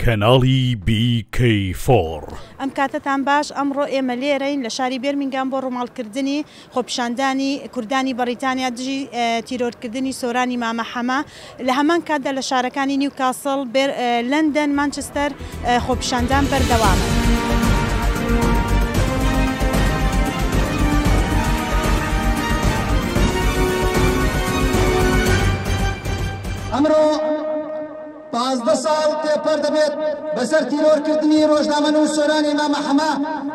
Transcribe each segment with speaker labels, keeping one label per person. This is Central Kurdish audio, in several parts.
Speaker 1: کەناڵی بی کەی فۆڕ. ئەم کاتەتان
Speaker 2: باش ئەمڕۆ ئێمە لێرەین لە شاری بێرمینگام بۆ ڕووماڵ کردنی خۆپیشاندانی کوردانی بەڕیتانیا دژی تیرۆر کردنی سۆرانی مامە حەمە لە هەمان کاتدا لە شارەکانی نیوکاسڵ بێر لەندەن مانچستەر خۆپیشاندان بەردەوامە.
Speaker 3: پازدە ساڵ تێپەر دەبێت بەسەر تیرۆرکردنی ڕۆژنامەنووسۆرانی مامە حەمە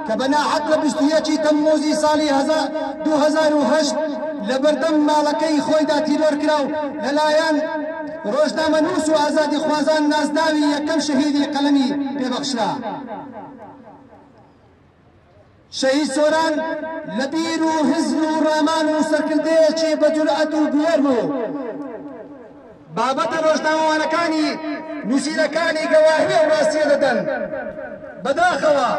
Speaker 3: کە بە ناحەق لە بیست و یەکی تەمموزی ساڵی هەزار دوو هەزار و هەشت لە بەردەم ماڵەکەی خۆیدا تیرۆر کرا و لەلایەن ڕۆژنامەنووس و ئازادی خوازان نازناوی یەکەم شەهیدی قەلەمی پێبەخشرا. شەهید سۆران لە بیر و هزر و ڕامان و سەرکردەیەکی بە جورئەت و بوێر بوو. بابەتە ڕۆژنامەوانەکانی نووسینەکانی گەواهی ئەو ڕاستیە دەدەن. بەداخەوە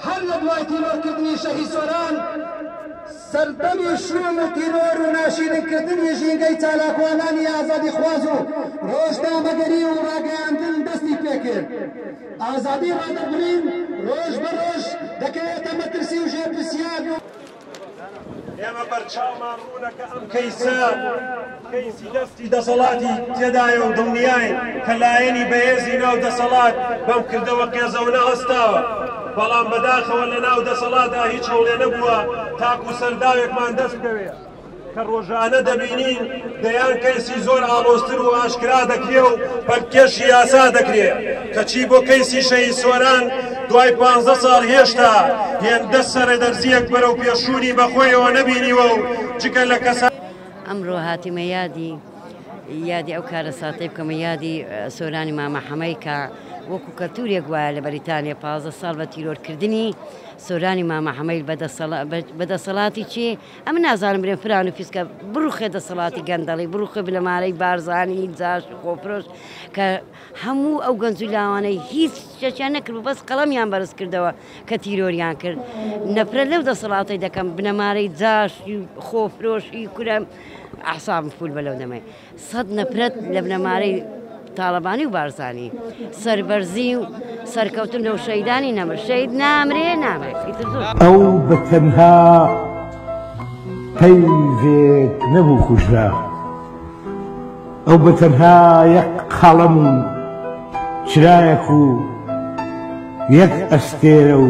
Speaker 3: هەر لە دوای تیرۆرکردنی شەهید سۆران سەردەمی شووم و تیرۆر و ناشیرینکردنی ژینگەی چالاکوانانی ئازادیخواز و ڕۆژنامەگەری و ڕاگەیاندن دەستی پێکرد. ئازادی ڕادەربڕین ڕۆژ بە ڕۆژ دەکەوێتە مەترسی و ژێرپرسیار.
Speaker 4: ئێمە بەرچاومان ڕوونە کە ئەم کەیسە. کەیسی دەستی دەسەڵاتی تێدایە و دڵنیاین کە لایەنی بەهێزی ناو دەسەڵات بەم کردەوە قێزەونە هەستاوە، بەڵام بەداخەوە لە ناو دەسەڵادا هیچ هەوڵێ نەبووە تاکوو سەرداوێکمان دەست بکەوێ، کە ڕۆژانە دەبینین دەیان کەیسی زۆر ئاڵۆزتر و ئاشکرا دەکرێ و پەلکێشی یاسا دەکرێ، کەچی بۆ کەیسی شەهید سۆران دوای پانزە ساڵ هێشتا هێندە سەرەدەرزییەک بەرەو پێشچوونی بەخۆیەوە نەبینیوە و جگە لە کەسانی ئەمرۆ هاتیمە
Speaker 5: یادی یادی ئەو کارەساتەی بکەمە یادی سۆرانی مامە حەمەی کە وەکو کەلتورێک وایە لە بەریتانیا پازدە ساڵ بە تیرۆرکردنی سۆرانی مامە حەمەیل بە دەسەڵاتی چێ ئەم نازانم برێن فران و فیسکە بڕوخێ دەسەڵاتی گەندەڵی بڕوخێ بنەمارەی بارزانانی جاش خۆفرۆش کە هەموو ئەو گەنج و لاوانەی هیچ شەچیان نەکرد بەس قەڵەمیان بەرز کردەوە کە تیرۆریان کرد نەفرەت لەو دەسەڵاتەی دەکەم بنەمارەی جاشی و خۆفرۆشی کورە ئەحسابم فول بە لەو دەمەی سەد نەفرەت لە بنەمارەی تاڵەبانی و بارزانی سەربەرزی و سەرکەوتن لەو شەیدانی نەمر شەید نامرێ نامرێت ئیتر زۆر ئەو
Speaker 6: بە تەنها پەیڤێک نەبوو کوژرا. ئەو بە تەنها یەک قەڵەم و چرایەک و یەک ئەستێرە و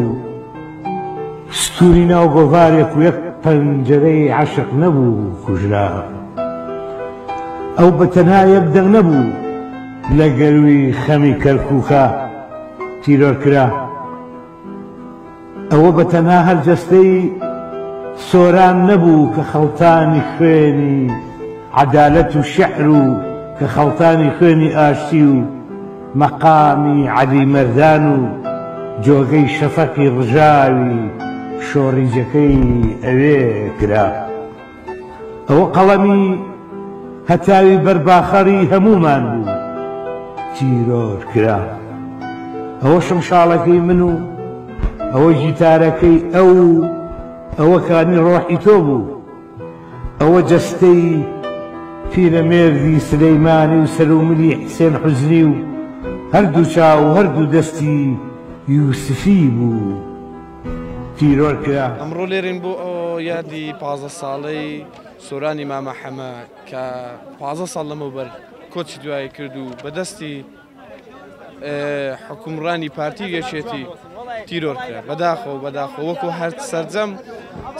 Speaker 6: ستوونی ناو گۆڤارێک و یەک پەنجەرەی عەشق نەبوو و کوژرا. ئەو بە تەنها یەک دەنگ نەبوو لە گەرووی خەمی کەرکووکا تیرۆر کرا. ئەوە بە تەنها هەر جەستەی سۆران نەبوو کە خەڵتانی خوێنی عەدالەت و شعر و کە خەڵتانی خوێنی ئاشتی و مەقامی عەلی مەردان و جۆگەی شەفەقی ڕژاوی شۆڕیجەکەی ئەوێ کرا. ئەوە قەڵەمی هەتاوی بەر باخەڕی هەموومان بوو تیرۆر کرا ئەوە شمشاڵەکەی من و ئەوە گیتارەکەی ئەو ئەوە کانی ڕۆحی تۆ بوو ئەوە جەستەی پیرەمێردی سلەیمانی و سەروملی حسێن حزنی و هەردوو چاو هەردوو دەستی یوسفی بوو. تیرۆر کرا. ئەمڕۆ لێرەین بۆ
Speaker 7: یادی پازدە ساڵەی سۆرانی مامە حەمە کە پازدە ساڵ لەمەوبەر کۆچی دوایی کرد و بەدەستی حکومڕانی پارتی یەکێتی تیرۆر کرا بەداخۆ بەداخۆ وەکو هەر سرجەم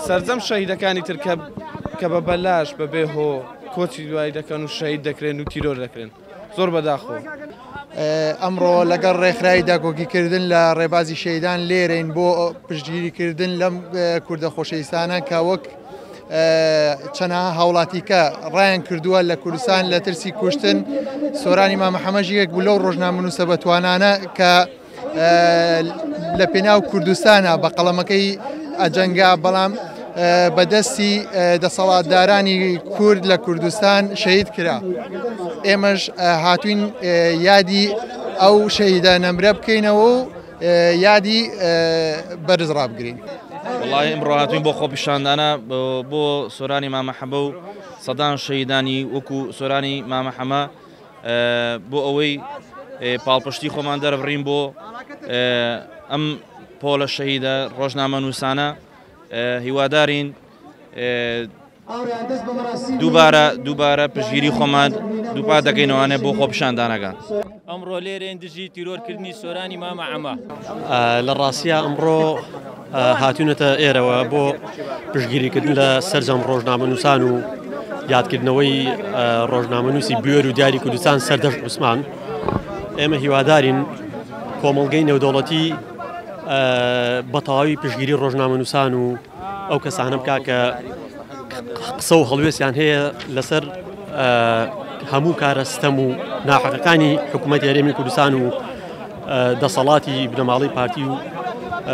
Speaker 7: سرجەم شەهیدەکانی ترکە کە بە بەلاش بەبێ هۆ کۆچی دوایی دەکەن و شەید دەکرێن و تیرۆر دەکرێن زۆر بەداخۆ
Speaker 8: ئەمڕۆ لەگەڵ ڕێکخراوی داکۆکیکردن لە ڕێبازی شەیدان لێرەین بۆ پشتگیریکردن لەم کوردە خۆشەویستانە کە وەک چەنە هاوڵاتیکە ڕایان کردووە لە کوردستان لە ترسی کوشتن سۆرانی مامەحەمەژ یەک بوو لەو ڕۆژنامە نووسە بەتوانانە کە لە پێناو کوردستانە بە قەڵەمەکەی ئەجەنگا بەڵام بەدەستی دەسەڵاتدارانی کورد لە کوردستان شەید کرا ئێمەش هاتوین یادی ئەو شەیدە نەمرە بکەینەوە و یادی بەرز ڕابگرین. وڵی
Speaker 9: ئمڕاتوین بۆ خۆپیشاندانە بۆ سۆرانی مامەحەبە و سەدان شەیدانی وەکو سۆرانی مامەحەمە بۆ ئەوەی پاڵپشتی خۆمان دەربڕین بۆ ئەم پۆلە شەهیدە ڕۆژنامە نووسانە هیوادارین دووبارە دووبارە پژگیری خۆمان دووپا دەکەینەوانە بۆ خۆپشاندانەکان ئەمڕۆ
Speaker 10: لێرێن دژی تیرۆرکردنی سۆرانی مامە ئەمە لە
Speaker 11: ڕاستە ئەمڕۆ هاتوونەتە ئێرەوە بۆ پشگیریکردن لە سەرجەم ڕۆژنامەنووسان و یادکردنەوەی ڕۆژنامەنووسی بوێر و دیاری کوردستان سەردەشت عوسمان ئێمە هیوادارین کۆمەڵگەی نێودەوڵەتی بەتەواوی پشگیری ڕۆژنامەنووسان و ئەو کەسانە بک کە قسە و هەڵوێستیان هەیە لەسەر هەموو کارە ستەم و ناحەقەکانی حکوومەت یاریێمی کوردستان و دەسەڵاتی بنەماڵەی پارتی و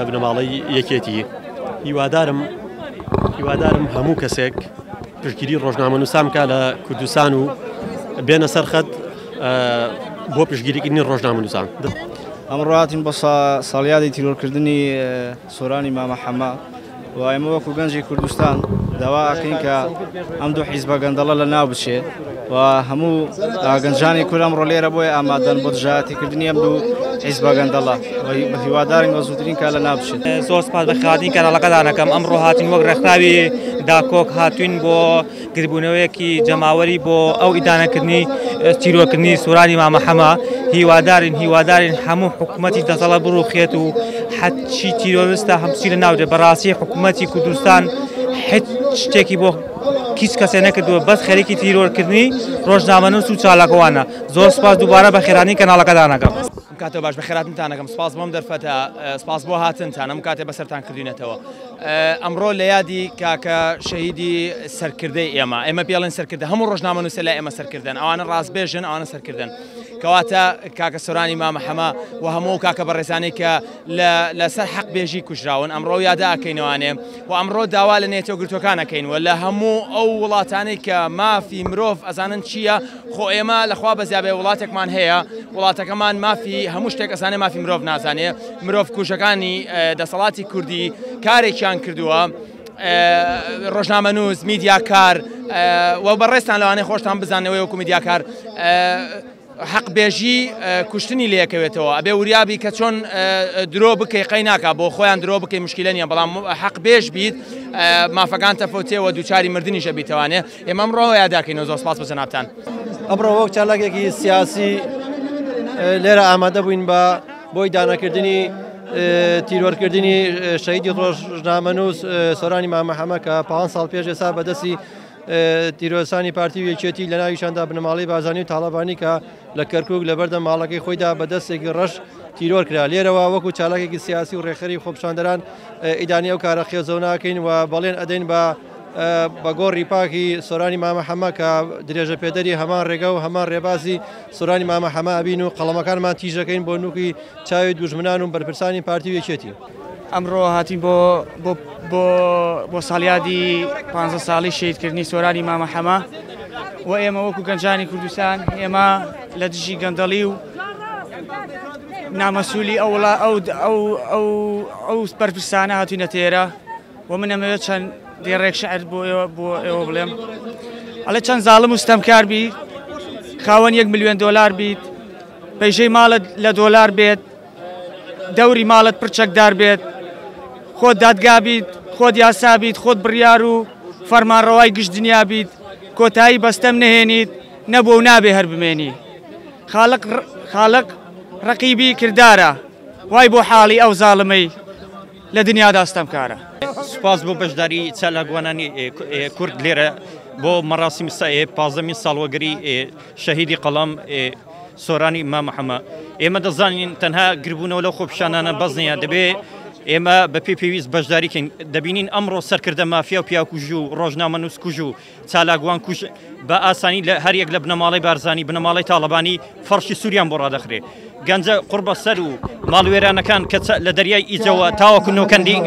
Speaker 11: بنەماڵەی یەکێتی هیوادارم هیوادارم هەموو کەسێک پشتگیری ڕۆژنامە نووسامکە لە کوردستان و بێنە سەرخەت بۆ پشگیریکردنی ڕۆژنامە نووسان ئەمڕاتین
Speaker 12: بە ساڵیادی تیرۆرکردنی سۆرانی مامە حەمە و ئێمە وەکو گەنجی کوردستان داوا ئەکەین کە ئەم دوو حیزبە گەندەڵە لە ناو بچێ و هەموو گەنجانی کورد ئەمڕۆ لێرە بۆیە ئامادەن بۆ دژایەتیکردنی ئەم دوو حیزبە گەندەڵە بە هیوادارین بە زووترین کار لە ناو بچێت زۆر سوپاس بە خاتری
Speaker 10: کەناڵەکەتان ئەکەم ئەمڕۆ هاتین وەک ڕێکخراوی داکۆک هاتووین بۆ گردبوونەوەیەکی جەماوەری بۆ ئەو ئیدانەکردنی تیرۆرکردنی سورانی مامە حەمە هیوادارین هیوادارین هەموو حکوومەتی دەسەڵە بڕوخێت و حەچی تیرۆرستە هەمچی لە ناوجێ بەڕاستی حکوومەتی کوردستان حچ شتێکی بۆ کیس کەسێ نەکردووە بەس خەریکی تیرۆرکردنی ڕۆژنامەنووس و چالاکوانە زۆر سپاس دووبارە بە خێرانی کەناڵەکەدانەکەم ئەم کاتە باش
Speaker 13: بەخێراتنتان ئەکەم سپاس بۆم دەرفەتە سپاس بۆ هاتنتان ئەم کاتێ بەسەرتان کردوینەتەوە ئەمڕۆ لە یادی کاکە شەهیدی سەرکردەی ئێمە ئێمە پێڵێن سەرکردە هەموو ڕۆژنامە نووسە لە ئێمە سەرکردن ئەوانە ڕاستبێژن ئەوانە سەرکردن کەواتە کاکە سۆرانی مامە حەمە و هەموو کاکە بەڕێزانەی کە لەسەر حەق بێژی کوژراون ئەمڕۆ یادا ئەکەینەوانێ و ئەمڕۆ داوا لە نێتۆ گرتوەکانەکەین و لە هەموو ئەو وڵاتانەی کە مافی مرۆڤ ئەزانن چییە خۆ ئێمە لە خوا بەزیابێ وڵاتێکمان هەیە وڵاتەکەمان مافی هەموو شتێک ئەسانێ مافی مرۆڤ نازانێ مرۆڤ کوژەکانی دەسەڵاتی کوردی کارێکیان کردووە ڕۆژنامە نووس میدیاکار و بەڕێستان لەوانەیە خۆشتان بزانەوەی وەکو میدیاکار حەقبێژی کوشتنی لەکەوێتەوە ئەبێ وریابی کە چۆن درۆ بکەی قەی ناکە بۆ خۆیان درۆ بکەی مشکلە نیە بەڵام حەقبێژ بیت مافەکان تەفەوتێەوە دووچاری مردنیشە بیتوانێت ئێمە ئەمڕۆ ئەوەیە داکەینەوە زۆر سپاس بۆ جەنابتان. ئەمڕۆ وەک
Speaker 11: چالاکێکی سیاسی لێرە ئامادە بووین بە بۆی دانەکردنی تیرۆرکردنی شەیدی ڕۆژنامەنووس سۆرانی مامەحەمە کە پ ساڵ پێش ئێستا بەدەستی تیرۆسانی پارتی و یەکێتی لە ناویشاندا بنەماڵی بازانی و تاڵەبانی کە لە کەرکک لە بەردە ماڵەکەی خۆیدا بە دەستێکی ڕەش تیرۆر کرا لێرەوە وەکو چالاکێکی سیاسی و ڕێخەری خۆپشاندەران ئیدانی ئەو کارە خێزەوناکەین و بەڵێن ئەدەین بە بە گۆڕی پاکی سۆرانی مامە حەمە کە درێژە پێدەری هەمان ڕێگە و هەمان ڕێبازی سۆرانی مامە حەمە ئەبین و قەڵەمەکانمان تیژەکەین بۆ نوکی چاوی دوژمنان و بەرپرسانی پارتی و یەکێتی. ئەمڕۆ هاتین
Speaker 10: بۆ بۆ بۆ بۆ ساڵیادی پ ساڵی شەیدکردنی سۆرانی مامە حەمە و ئێمە وەکو گەنجانی کوردستان ئێمە لە دژی گەندەڵی و نامەسوولی ئەوڵا ئەو ئەو ئەو ئەو بەرپرسانە هاتوینە تێرە وە من ئەمەوێت چەند دێڕێک شعر بۆ ئێوە بۆ ئێوە بڵێم ئەڵێ چەند زاڵم و ستەمکار بی خاوەن یەک ملیۆن دۆلار بیت پەیژەی ماڵت لە دۆلار بێت دەوری ماڵت پرچەکدار بێت خۆت دادگا بیت خۆت یاسا بیت خۆت بڕیار و فەرمانڕەوای گشت دنیا بیت کۆتایی بەستەم نهێنیت نەبوو و نابێ هەر بمێنی خاڵق خاڵق ڕقیبی کردارە وای بۆ حاڵی ئەو زاڵمەی لە دنیادا ستەمکارە. سوپاس بۆ
Speaker 14: بەشداری چالاکوانانی کورد لێرە بۆ مەراسیمی پازدەمین ساڵوەگەری شەهیدی قەڵەم سۆرانی مام محەمە. ئێمە دەزانین تەنها گربوونەوە لەو خۆپیشانانە بەس نییە، دەبێ ئێمە بە پێی پێویست بەشداری کەین. دەبینین ئەمڕۆ سەرکردە مافیا و پیاوکوژ و ڕۆژنامەنووسکوژ و چالاکوان کوژ بە ئاسانی لە هەر یەک لە بنەماڵەی بارزانی بنەماڵەی تاڵەبانی فەڕشی سووریان بۆ ڕادەخرێ گەنجە قڕبەسەر و ماڵوێرانەکان کە لە دەریای ئیجەوە تاوەکو نۆکەندی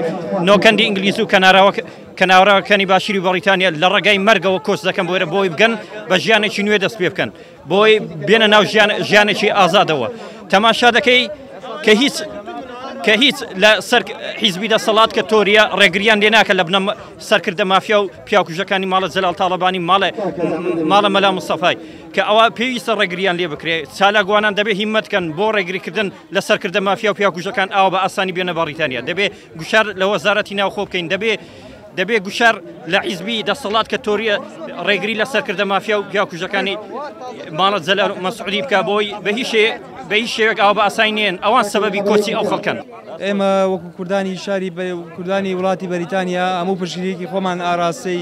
Speaker 14: نۆکەندی ئینگلیز و کەناراوە کەناوراوەکانی باشووری بەڕیتانیا لە ڕێگای مەرگەوە کۆچ دەکەن بۆێرە بۆی بگەن بە ژیانێکی نوێ دەست پێ بکەن بۆی بێنە ناو ژیانێکی ئازادەوە تەماشا دەکەی کە هیچ کە هیچ لە سەر حیزبی دەسەڵات کە تۆریە ڕێگریان لێ ناکە لە بنە سەرکردە مافیا و پیاکوژەکانی ماڵە جەلال تاڵەبانی ماڵێ ماڵە مەلا مستەفای کە ئەوە پێویستە ڕێگریان لێ بکرێت چالاگووانان دەبێ هیمەتکەن بۆ ڕێگریکردن لە سەرکردە مافیا و پیاکوژەکان ئاو بە ئاسانی بێنە بەڕیتانیا دەبێ گوشار لە وەزارەتی ناوخۆ بکەین دەبێ دەبێ گوشار لە حیزبی دەسەڵات کە تۆریە ڕێگری لە سەرکردە مافیا و پیاکوژەکانی ماڵە جەل مەسعودی بکە بۆی بە هیچ بە هیچ شێوێک ئاو بە ئاسای نێن ئەوان سەبەبی کۆچی ئەو خەڵکەن ئێمە وەکو
Speaker 15: کوردانی شاری کوردانی وڵاتی بەریتانیا هەموو پشگیرێکی خۆمان ئاراستەی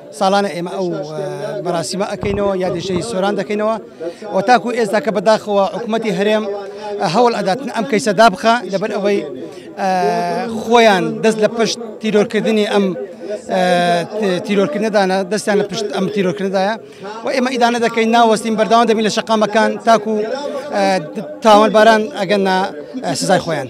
Speaker 16: ساڵانە ئێمە ئەو بەڕاستیمە ئەەکەینەوە یادیشەی سۆران دەکەینەوە و تاکو ئێستا کە بەداخەوە حکوومەتتی هەرێم هەوڵ ئەداتن ئەم کەیسە دابخە لەبەر ئەوەی خۆیان دەست لە پشت تیرۆرکردنی ئەم تیرۆرکردنەدانە دەستیان لە پشت ئەم تیرۆرکرددایە و ئێمە ئیدانە دەکەین ناوەستین بەرداوام دەبین لە شقامەکان تاکو تاوانباران ئەگەن سزای خۆیان.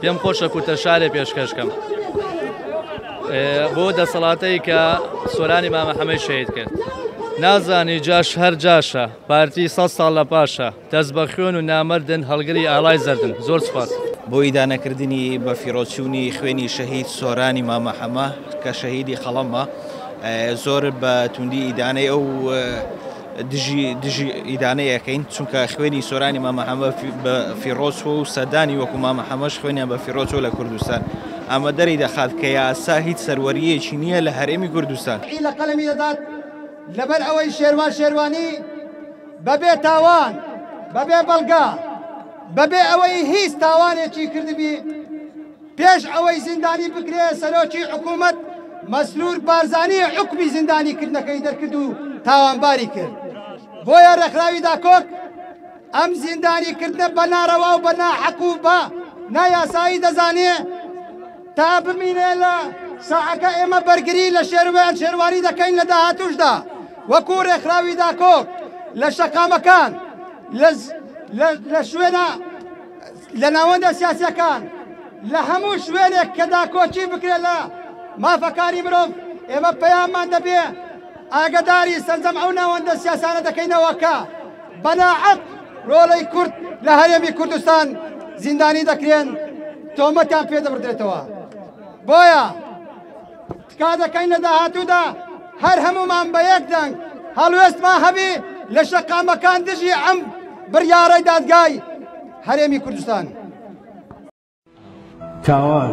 Speaker 17: پێم خۆشە کورتە شارێ پێشکەشکەم بۆ دەسەڵاتەی کە سۆرانی مامە حەمەی شەید کرد نازانی جاش هەر جاشە پارتی سە ساڵ لە پاشە دەست بە خوێن و نامردن هەڵگری ئالای زەردن زۆر سپاس بۆ ئیدانەکردنی
Speaker 18: بە فیرۆچوونی خوێنی شەهید سۆرانی مامە حەمە کە شەهیدی قەڵەمە زۆر بە توندی ئیدانەی ئەو دژی دژی ئیدانە یەکەین چونکە خوێنی سۆرانی مامە حەمە بە فیڕۆچوە و سەدانی وەکو مامە حەمەش خوێنیان بە فیڕۆچوە لە کوردستان ئەمە دەری دەخات کە یاسا هیچ سەروەرییەکی نییە لە هەرێمی کوردستان. ی لە قەلەمی دەدات
Speaker 16: لەبەر ئەوەی شێروان شێروانی بە بێ تاوان بە بێ بەڵگە بە بێ ئەوەی هیچ تاوانێکی کردبی، پێش ئەوەی زیندانی بکرێ سەرۆکی حکوومەت مەسرور بارزانی حکمی زیندانی کردنەکەی دەرکرد و تاوانباری کرد بۆیە ڕێکخراوی داکۆک ئەم زیندانی کردنە بە ناڕەوا و بە ناحەق و بە نایاسایی دەزانێ تا بمینێ لە ساعەکە ئێمە بەرگری لە شێروان شێروانی دەکەین لە داهاتوشدا وەکو ڕێکخراوی داکۆک لە شەقامەکان لە شوێنە لە ناوەندە سیاسیەکان لە هەموو شوێنێک کە داکۆکی بکرێت لە مافەکانی مرۆڤ ئێمە پەیاممان دەبێ ئاگەداری سەرجەم ئەو ناوەندە سیاسانە دەکەینەوە کە بەناعەت ڕۆڵەی کورد لە هەرێمی کوردستان زیندانی دەکرێن تۆمەتیان پێ دەبردرێتەوە بۆیە تکا دەکەین لە داهاتوودا هەر هەموومان بە یەک دەنگ هەڵوێستمان هەبی لە شەقامەکان دژی ئەم بڕیارەی دادگای هەرێمی کوردستان.
Speaker 6: تاوان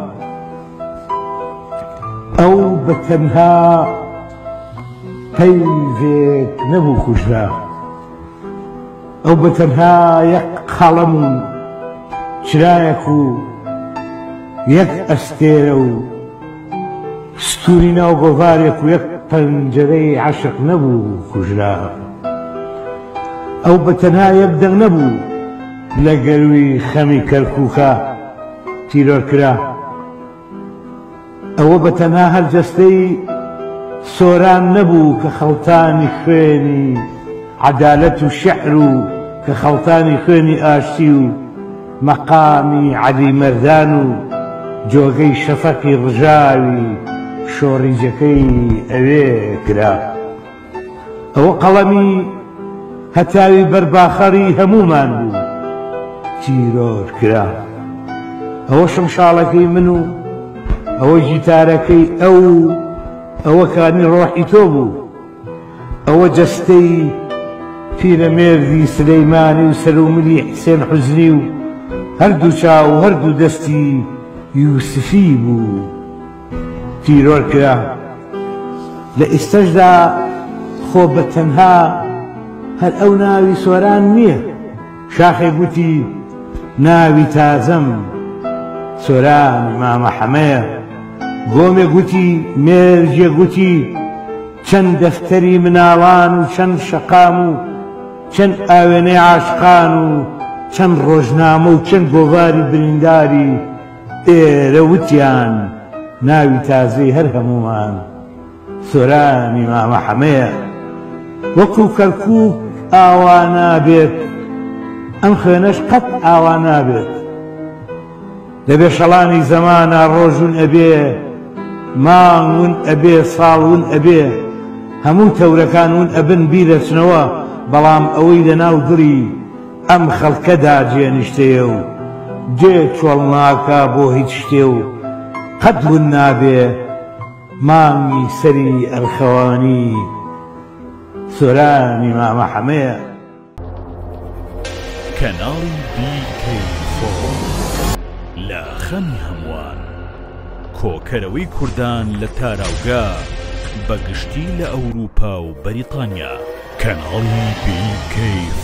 Speaker 6: ئەو بە تەنها پەیڤێک نەبوو کوژرا ئەو بە تەنها یەک قەڵەم و چرایەک و یەک ئەستێرە و ستوری ناو گۆڤارێک و یەک پەنجەرەی عەشق نەبوو کوژرا ئەو بەتەنها یەک دەنگ نەبوو لە گەروی خەمی کەرکوکا تیرۆر کرا ئەوە بەتەنها هەر جەستەی سۆران نەبوو کە خەڵتانی خوێنی عەدالەت و شعر و کە خەڵتانی خوێنی ئاشتی و مەقامی عەلی مەردان و جۆگەی شەفەقی ڕژاوی شۆڕیجەکەی ئەوێ کرا. ئەوە قەڵەمی هەتاوی بەرباخەڕی هەموومان بوو تیرۆر کرا. ئەوە شمشاڵەکەی من و ئەوە گیتارەکەی ئەو و ئەوە کانی ڕۆحی تۆ بوو. ئەوە جەستەی پیرەمێردی سلیمانی و سەر و ملی حسێن حوزنی و هەردوو چاو و هەردوو دەستی یوسفی بوو تیرۆر کرا. لە ئیستەشدا خۆ بە تەنها هەر ئەو ناوی سۆران نیە. شاخێ گوتی، ناوی تازەم سۆرانی مامە حەمەیە. گۆمێ گوتی، مێرگێ گوتی، چەند دەفتەری مناڵان و چەند شەقام و چەند ئاوێنەی عاشقان و چەند ڕۆژنامە و چەند گۆڤاری برینداری ئێرە وتیان، ناوی تازەی هەر هەموومان. سۆرانی مامە حەمەیە وەکو کەرکوک ئاوا نابێت ئەم خوێنەش قەت ئاوا نابێت لە بێشەڵانی زەمانە ڕۆژون ئەبێ ماون ئەبێ ساڵون ئەبێ هەموو تەورەکان ون ئەبن بیرەچنەوە بەڵام ئەوەی لە ناو دڵی ئەم خەڵکەدا جێنیشتەیە و جێ چۆڵناکە بۆ هیچ شتێ و قەت ون نابێ مانگی سەری ئەرخەوانی سۆرانی مامە حەمەیە.
Speaker 1: کەناڵی BK4 لە خەمی هەمووان کۆکەرەوەی کوردان لە تاراوگە بە گشتی لە ئەوروپا و بەریتانیا. کەناڵی BK4.